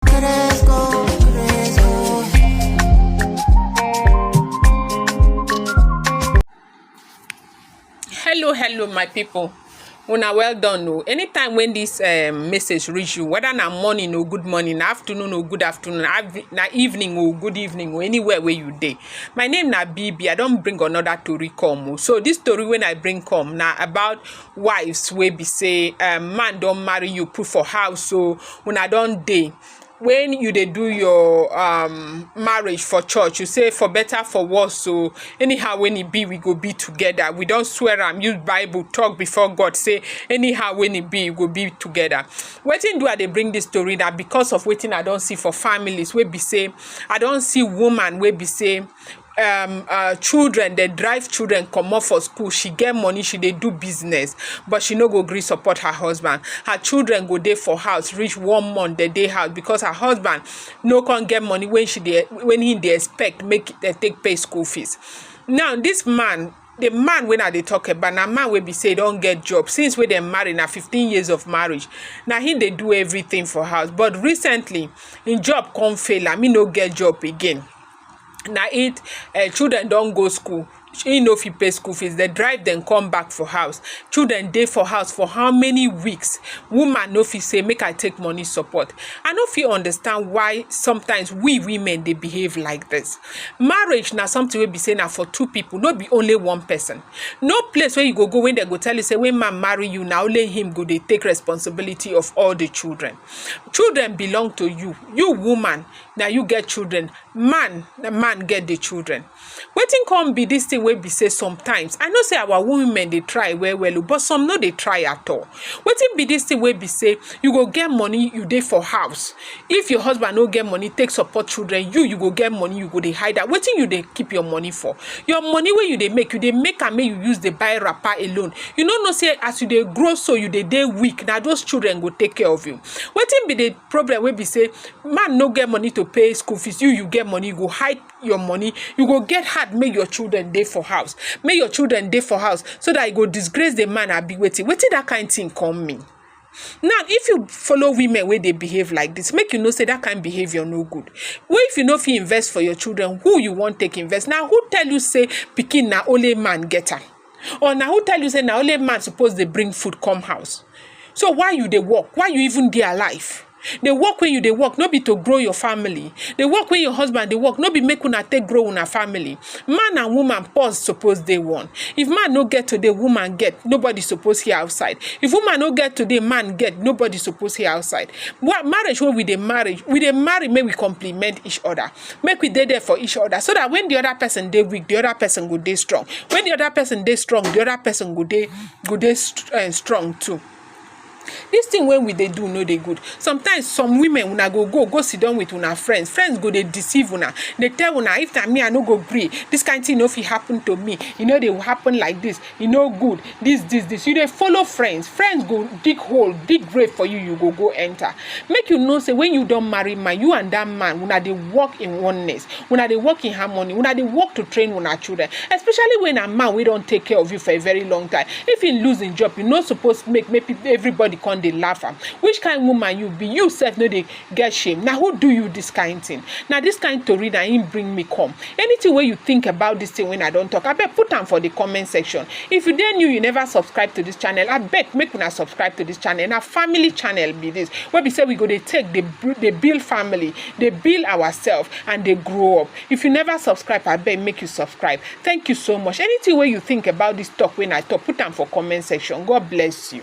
Cresco, Cresco. hello hello my people una well done o anytime when this um, message reach you whether na morning or good morning na afternoon or good afternoon na evening or good evening or anywhere where you dey my name na bb i don bring another tori come o so this tori wey i bring come na about wives wey be say um, man don marry you put for house so when I don't dey when you dey do your um, marriage for church you say for better for worse so anyhow when e be we go be together we don't swear am use bible talk before god say anyhow when e be we go be together wetin do i dey bring this story na because of wetin i don't see for families wey be say i don't see woman wey be say um uh, children dey drive children comot for school she get money she dey do business but she no go gree support her husband her children go dey for house reach one month dem dey house because her husband no come get money when she dey when he dey expect make dem take pay school fees now this man the man wey i dey talk about na man wey be say e don get job since wey dem marry na fifteen years of marriage na him dey do everything for house but recently him job come fail am he no get job again na im um children don go school, im no fit pay school fees, dem drive dem come back for house, children dey for house for how many weeks, woman no fit sey make I take money support, I no fit understand why sometimes we women dey behave like dis, marriage na something wey be sey na for two pipu no be only one person, no place wey you go go wey dem go tell you sey wen man marry you na only him go dey take responsibility of all di children, children belong to you, you woman na you get children man na man get the children wetin come be this thing wey be say sometimes i know say our women dey try well well o oh, but some no dey try at all wetin be this thing wey be say you go get money you dey for house if your husband no get money take support children you you go get money you go dey hide am wetin you dey keep your money for your money wey you dey make you dey make am make you use dey buy wrapper alone you no know say as you dey grow so you dey dey weak na those children go take care of you wetin be the problem wey be say man no get money to pay school fees you you get money you go hide your money you go get hard make your children dey for house make your children dey for house so that you go disgrace the man abi wetin wetin that kind thing come mean now if you follow women wey dey behave like this make you know say that kind behaviour no good wey if you no fit invest for your children who you wan take invest na who tell you say pikin na only man get am Or na who tell you say na only man suppose dey bring food come house? So why you dey work? Why you even dey alive? The work wey you dey work no be to grow your family. The work wey your husband dey work no be make una take grow una family. Man and woman pause suppose dey one. If man no get today, woman get. Nobody suppose hear outside. If woman no get today, man get. Nobody suppose hear outside. Wa- Marriage wey we dey marry, we dey marry make we complement each other. make we dey there for each other so that when the other person dey weak the other person go dey strong when the other person dey strong the other person go dey go dey st uh, strong too this thing wey we dey do no dey good sometimes some women una go go go sit down with una friends friends go dey deceive una dey tell una if na me i no go gree this kind thing no fit happen to me e no dey happen like this e no good this this this you dey follow friends friends go dig hole dig grave for you you go go enter make you know say when you don marry man you and that man una dey work in oneness una dey work in harmony una dey work to train una children especially when a man wey don take care of you for a very long time if he lose him job you no suppose make make everybody come dey laugh am which kind woman you be you sef no dey get shame na who do you this kind thing na this kind tori na him bring me come anything wey you think about this thing wey i don talk abeg put am for the comment section if you dey new you never subscribe to this channel abeg make una subscribe to this channel na family channel be this wey be say we go dey take dey dey build family dey build ourselves and dey grow up if you never subscribe abeg make you subscribe thank you so much anything wey you think about this talk wey i talk put am for comment section god bless you.